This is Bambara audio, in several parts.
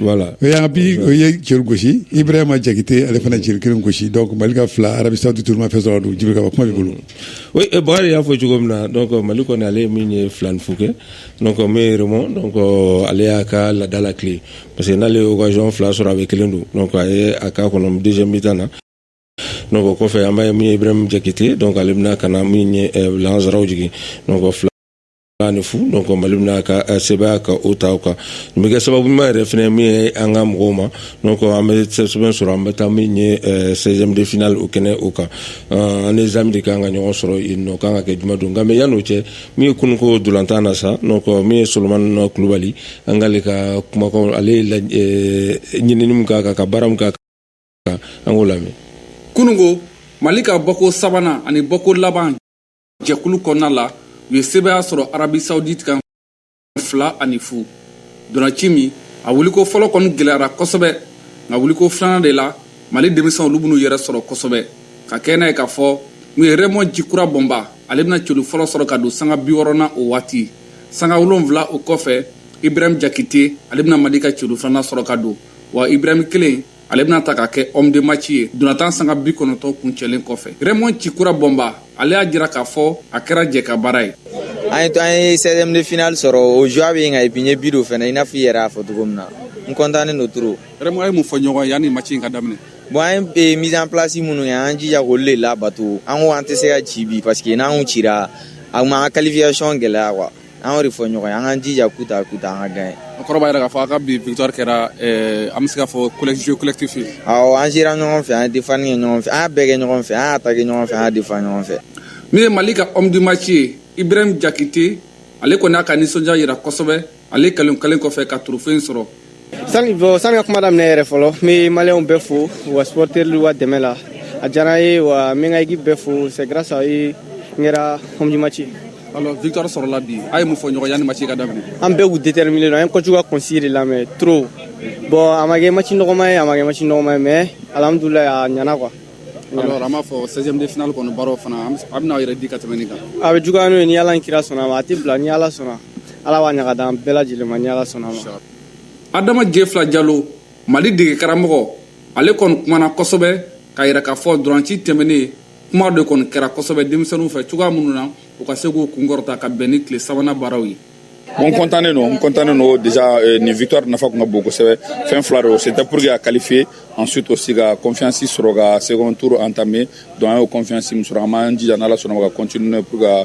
Wala o y'an bi o ye cɛ gosi i bɛ ma jakite ale fana cɛ kelen gosi mali ka fila arasa duuruuru fɛ sɔrɔ don juru kuma bolo bakarijan y'a fɔ cogo min na mali kɔni ale ye min ye filan fo kɛ yɛrɛ ale y'a ka ladala tile parce que n'ale yɔn fila sɔrɔ a bɛ kelen don a k'a kɔnɔ dɛsɛ bɛ taa na kɔfɛ an' ye min jakite ale bɛna ka na min sɔrɔ jigin fila ni fu donc mali bɛna ka eh, sebaaya ka o ta o kan nin bɛ kɛ sababu ɲuman yɛrɛ fana min ye an ka mɔgɔw ma donc an bɛ sɛbɛn sɔrɔ an bɛ taa min ye eh, 16e de finale o kɛnɛ o kan Eh, an ni zanbi de kan ka ɲɔgɔn sɔrɔ yen n'o kan ka kɛ juma don nka mais yan'o cɛ min ye kununko ntolatan na sa donc min ye solomani kulubali an k'ale ka kumakanw ale ye laj- eh, ɲinini min k'a kan ka baara min k'a kan an k'o lamɛn kunungo mali ka bɔko sabanan ani bɔko laban jɛkulu kɔnɔna la u ye sebaaya sɔrɔ arabi saudite kan fila ani fu ntolaci min a wuliko fɔlɔ kɔni gɛlɛyara kosɛbɛ nka wuliko filanan de la mali denmisɛnw olu b'u yɛrɛ sɔrɔ kosɛbɛ ka kɛ n'a ye k'a fɔ min ye rɛmɔn jikura bɔnba ale bɛna celu fɔlɔ sɔrɔ ka don sanga biwɔɔrɔnan o waati sanga wolonfila o kɔfɛ ibrahim jakite ale bɛna mali ka celu filanan sɔrɔ ka don wa ibrahim kelen ale bɛna ta ka kɛ homme de match ye ntolatan sanga bikɔnɔntɔn kuncɛlen kɔfɛ rɛmɔn jikura bɔnba ale y'a jira k'a fɔ a kɛra jɛkabaara ye an ye an ye 16e de finale sɔrɔ o joie bɛ n kan et puis n ye bi don fana i n'a fɔ i yɛrɛ y'a fɔ cogo min na n kɔntannen don trop rɛmɔn a ye mun fɔ ɲɔgɔn yanni match in ka daminɛ bon an ye mise en place minnu kɛ an jija k'olu de labato an ko an tɛ se ka ci bi parce que n'an cira a kun b'an ka qualification gɛlɛya quoi an de fɔ ɲɔgɔn an kaan jija ku ta ku an ka gan an kɔrɔ yɛrɛ k'a fɔ a ka bi vta kɛra an bɛ se ka fɔ kɛlɛsisiwlɛtifi an sera ɲɔgɔn fɛ an defa ye ɲɔgɔn fɛ an bɛɛ kɛ ɲɔgɔn fɛ an ta kɛ ɲɔgɔn fɛ an defa ɲɔgɔn fɛ min ye mali ka amimaki ye i bɛ jakite ale kɔni n'a ka nisɔndiya jira kosɛbɛ ale kalo kelen kɔfɛ ka turufen sɔrɔ Sani bɔ sani ka kuma daminɛ yɛrɛ fɔlɔ n bɛ maliyɛnw bɛɛ fo u ka supporter u ka dɛmɛ la a diyara n ye wa n bɛ n ka équipe bɛɛ fo c'est grâce à eux n kɛra homme du match ye. Alors victoire sɔrɔla bi a ye mun fɔ ɲɔgɔn ye yanni match ka daminɛ. An bɛɛ kun déterminé don an ye coach ka consigne de lamɛn trop bon a ma kɛ match nɔgɔma ye a ma kɛ match nɔgɔma ye mais alhamdulilayi a ɲɛna quoi. Alors an b'a fɔ 16e de finale kɔni baaraw fana a bɛna aw yɛrɛ di ka tɛmɛ nin kan. A bɛ juguya n'o ye ni Ala ni kira sɔnna a ma a tɛ bila ni Ala sɔnna Ala b'a ɲaga d'an bɛɛ lajɛlen ma ni Ala sɔnna a ma. adama jefila jalo mali dege karamɔgɔ ale kɔni kumana kosɛbɛ k'a yira k'a fɔ ntolaci tɛmɛnen kuma de kɔni kɛra kosɛbɛ denmisɛnninw fɛ cogoya minnu na u ka se k'u kunkɔrɔta ka bɛn ni tile sabanan baaraw ye n kɔntannen don n kɔntannen don déjà euh, nin victoire nafa kun ka bon kosɛbɛ fɛn fila don c'était pour que a qualifier ensuite aussi ka confiance sɔrɔ ka second tour entamer donc an y'o confiance min sɔrɔ an b'an jija n'ala sɔnna ma ka continuer pour ka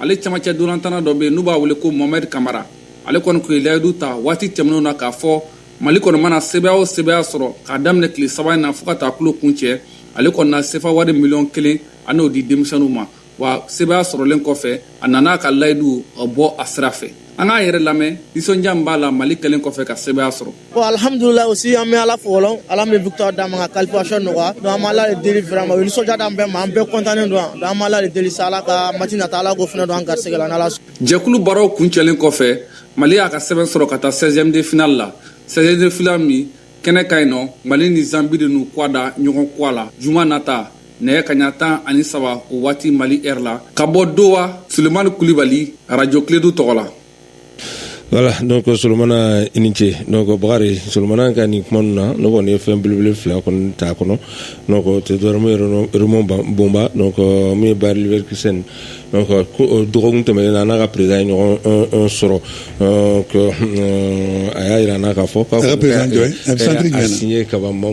ale camancɛ ntolatanna dɔ bɛ yen n'u b'a wele ko mohamed kamara ale kɔni tun ye layidu ta waati tɛmɛnen na k'a fɔ mali kɔni mana sebaaya o sebaaya sɔrɔ k'a daminɛ tile saba in na fo ka taa tulon kuncɛ ale kɔni na sefa wari miliyɔn kelen a n'o di denmisɛnninw ma wa sebaaya sɔrɔlen kɔfɛ a nana a ka layidu bɔ a sira fɛ an k'a yɛrɛ lamɛn nisɔndiya min b'a la mali kɛlen kɔfɛ ka sebaaya sɔrɔ bon alhamdulilayi aussi an bɛ ala fo fɔlɔ ala min victoire d'an ma ka qualification nɔgɔya donc an bɛ ala de deli vraiment o ye nisɔndiya d'an bɛɛ ma an bɛɛ content don donc an bɛ ala de deli sa ala ka match nata ala k'o fana don an garisɛgɛ la n'ala jɛkulu baaraw kuncɛlen kɔfɛ mali y'a ka sɛbɛn sɔrɔ ka taa 16e de finale la 16e de finale min kɛnɛ kan yen nɔ mali ni zambi de n'u kɔgɔ da ɲɔgɔn kɔgɔ la juma nata nɛgɛ kaɲa tan ani saba o waati mali heure la ka bɔ doha sulemani kulibali radio kledu tɔgɔ la voilà donc solomana i ni ce donc bakari solomana ka nin kuma ninnu na ne kɔni ye fɛn belebele fila kɔni t'a kɔnɔ donc o tɛ dɔwɛrɛ min ye raymond bomba donc min ye bayer leverkusen donc dɔgɔkun tɛmɛnen na n'a ka président ye ɲɔgɔn sɔrɔ donc a y'a jira n na k'a fɔ k'a signé kaban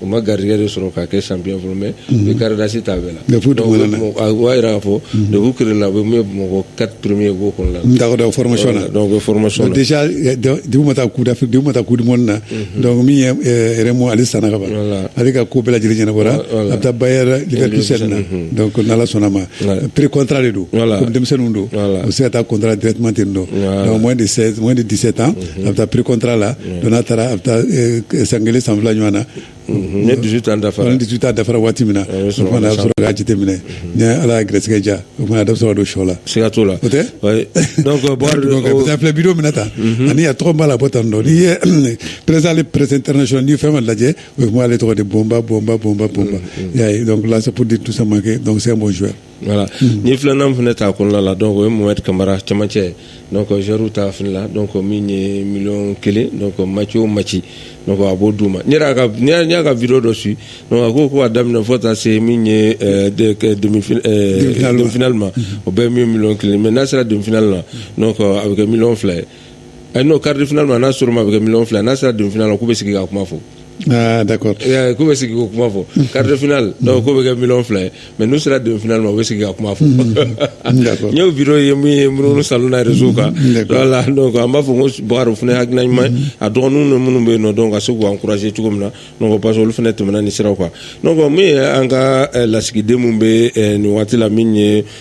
u ma garigɛ de sɔrɔ k'a kɛ sanpy fɔlɔ mɛ u garidasi t'a bɛ la b'a jira k'a fɔ debu kila u bɛ mɔgɔ katouru ye b'o kɔnɔ la fɔlɔsɔn na bɛ fɔlɔsɔn dugu ma taa kuda dugu ma taa ku dimɔni na dɔnkuc min yɛrɛmu ale san kaban ale ka ko bɛɛ lajɛlen ɲɛnabɔ a bɛ taa ba yɛrɛsɛri na ko ala sɔnna ma pere kɔntara de don denmisɛnnin don u se ka taa kɔntan dɛrɛti ten don de de dese tan a bɛ taa pré-contrat la donc n'a taara a bɛ taa san kelen san fila ɲɔgɔn na ni dix-huit ans dafa ni dix-huit ans dafara waati min na sɔrɔ k'a jate minɛ ni ala ye garisɛgɛ diya o fana da sɔrɔ don shɔ la se ka t'o la o tɛ filɛ bi minɛ ta ani a tɔgɔ b'a la bɔ tan dɔn n'i ye presse les presses internationales n'i fɛn ma lajɛ o tun ale tɔgɔ de bomba bomba bomba bomba y'a ye donc là c'est pour dire tout ça ma kɛ donc c'est un bon joueur Wala n ye filanan fana ta kɔnɔna la dɔn o ye mɔ kamara camancɛ zuru ta fini la dɔn min ye mi kelen maci o ma ci a b'o d' ma y'a ka v dɔ su a ko ko' daminɛ fɔ ta se min ye donfili ma o bɛ min kelen mɛ n'a sera donfli la a bɛ kɛ mi fila ye eh non quart de finale ma n'a sera o ma a bɛ kɛ miliyɔn fila n'a sera demi finale ma k'u bɛ sigi ka kuma fɔ Ah, d'accord. Eh, k'u bɛ sigi k'o kuma fɔ quart de finale donc k'o bɛ kɛ miliyɔn fila ye mais n'u sera demi finale ma u bɛ sigi ka kuma fɔ D'accord. n y'o video ye min ye minnu salon na réseau kan D'accord. voilà donc an b'a fɔ ko bakari o fana ye hakilina ɲuman ye a dɔgɔninw ni minnu bɛ yen nɔ donc ka se k'u encourager cogo min na donc parce que olu fana tɛmɛna ni siraw kan donc min ye an ka eh, lasigiden minnu bɛ eh, nin waati la min ye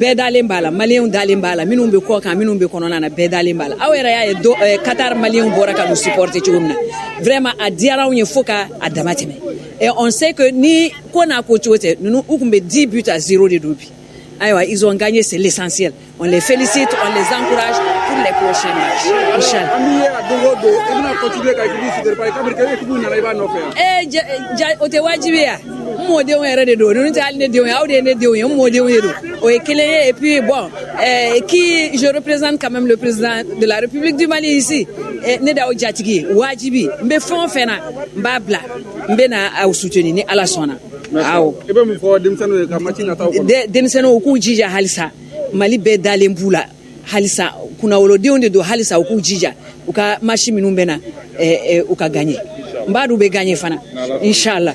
bɛɛ dalen b'a la maliyɛnw dalen b'a la minnu bɛ kɔ kan minnu bɛ kɔnɔna na bɛɛ dalen b'a la aw yɛrɛ y'a ye do eh, Qatar maliyɛnw bɔra ka n'u supporter cogo min na vraiment a diyara anw ye fo k'a damatɛmɛ et on sait que ni ko n'a ko cogo tɛ ninnu u tun bɛ 10 buts à 0 de don bi ayiwa ils ont gagné c'est l'essentiel on les félicite on les encourage pour les prochains matchs inchallah an b'i ye a don o don i bɛna continuer ka équipe supporter parce que kabini kɛ équipe nana i b'a nɔfɛ yan. ee eh, ja o tɛ wajibi ye wa. mɔdenw yɛrɛ de don ninnu tɛ hali ne denw ye aw de ye ne denw ye n mɔdenw de don o ye kelen ye et puis bon euh, qui je représente quand même le président de la République du Mali ici eh, ne da o jatigi ye wajibi n bɛ fɛn o fɛn na n b'a bila n bɛ na aw soutenir ni Ala sɔnna awɔ i bɛ mun fɔ denmisɛnninw ye ka match nataw kɔnɔ denmisɛnninw u k'u jija halisa Mali bɛɛ dalen b'u la halisa kunnawolodenw de don halisa u k'u jija u ka match minnu bɛ na eh, eh, u ka gagner n b'a dɔn u bɛ gagner fana inshallah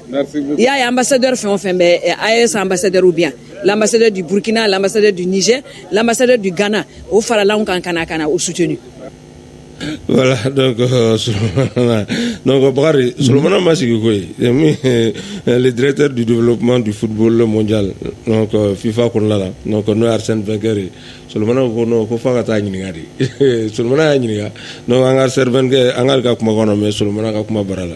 i y'a ye ambassadeur fɛn o fɛn bɛ eh, AES ambassadeur ou bien l'ambassadeur du burkina l'ambassadeur du niger l'ambassadeur du ghana u farala anw kan ka na ka na u soutenu voilà donc euh, Souleymane donc Bakari Souleymane ma sigi koyi c'est min euh, le directeur du développement du football mondial donc euh, FIFA kɔnɔna la donc n'o ye Arsène Wenger ye Souleymane ko non ko f'a ka t'a ɲininka de Souleymane y'a ɲininka donc an ka Arsène Wenger an k'ale ka kuma kɔnɔ mais Souleymane ka kuma bara la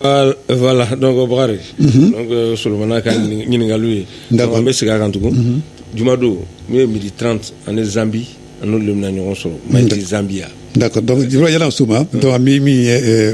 Wala dɔn bakari solonmana ka ɲininkaka ye nka an bɛ segin a kan tugun jumadon n'u ye midi t ani zanbi ani lamina ɲɔgɔn sɔrɔ ma zanbiya yɛlɛ so ma min min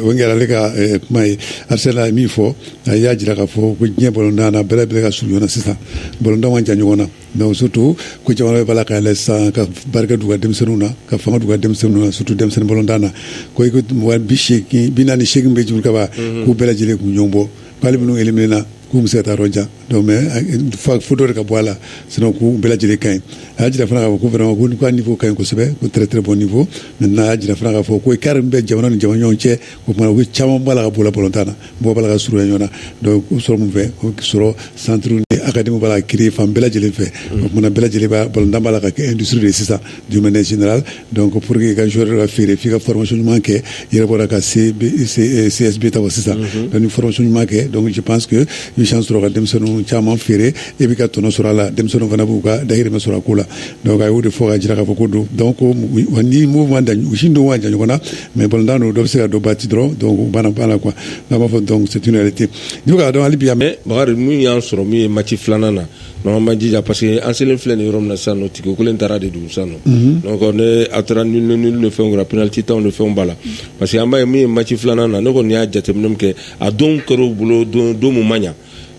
o kɛra ale ka kuma ye a se min fɔ a y'a jira k'a fɔ ko diɲɛ bɔ bɛɛ bɛ ka surun ɲɔgɔn sisan bɔn jan ɲɔgɔn na Donc surtout ko jamana bɛɛ b'a la k'a lajɛ sa ka barika don u ka denmisɛnninw na ka fanga don u ka denmisɛnninw na surtout denmisɛnnin balontan na ko binaani ni seegin bɛ jouer ka ban k'u bɛɛ lajɛlen tun ɲɔgɔn bɔ k'ali minnu éliminé la k'u ma se ka taa yɔrɔ jan mais fo dɔ de ka bɔ a la sinon k'u bɛɛ lajɛlen ka ɲi a y'a jira fana k'a fɔ ko vraiment ko niveau ka ɲi kosɛbɛ ko très très bon niveau maintenant a y'a jira fana k'a fɔ ko écart min bɛ jamana ni jamana ɲɔgɔn cɛ o tuma ko a caman b'a la ka bɔ a la balontan na mɔgɔ b'a la ka surunya ɲɔgɔn na donc o sɔrɔ mun fɛ o sɔrɔ centre ni académie b'a la ka créer fan bɛɛ lajɛlen fɛ o tuma na bɛɛ lajɛlen b'a balontan b'a la ka kɛ industrie de ye sisan d'une manière générale donc pour que i ka joueur ka feere f'i ka formation ɲuman kɛ i yɛrɛ bɔra ka CB, C, CSB ta wa sisan donc ni formation ɲuman kɛ donc je pense que i bɛ chance sɔrɔ ka denmisɛnninw caman feere e b'i ka tɔnɔ sɔrɔ a la denmisɛnninw fana b'u ka dahirimɛ sɔrɔ a ko la donc a y'o de fɔ ka jira k'a fɔ ko don donc ko wa ni mouvement da u si don man jan ɲɔgɔn na mais balontan don dɔ bɛ se ka dɔ battre dɔrɔn donc u banna banna quoi n'a b'a fɔ donc c'est une réalité i bɛ k'a dɔn hali bi mais bakari mun y'an sɔrɔ min ye match filanan na non an ma jija parce que an selen filɛ nin yɔrɔ min na sisan nɔ tigi kelen taara de don sisan nɔ donc ne a taara nul nul ni fɛnw kɛra penalty tanw ni fɛnw b'a la parce que an b'a ye min ye match filanan na ne kɔni y'a jateminɛ min kɛ a don kɛra u bolo don don mun ma ɲa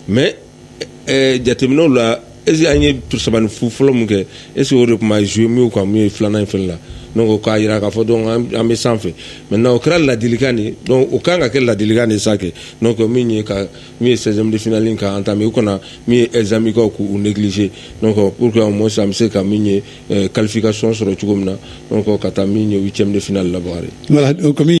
mais ɛɛ jateminɛw la est-ce an ye saba ni fu fɔlɔ min kɛ est-ce o de kuma jouer mieux ka min ye filanan in fɛn la donc o k'a jira k'a fɔ donc an bɛ sanfɛ maintenant o kɛra ladilikan de donc o kan ka kɛ ladilikan de sa kɛ donc min ye ka min ye seizième de finale in ka entamer u kana min ye Zambikaw k'u négliger donc pour que au moins an bɛ se ka min ye qualification sɔrɔ cogo min na donc ka taa min ye huitième de finale la Bakari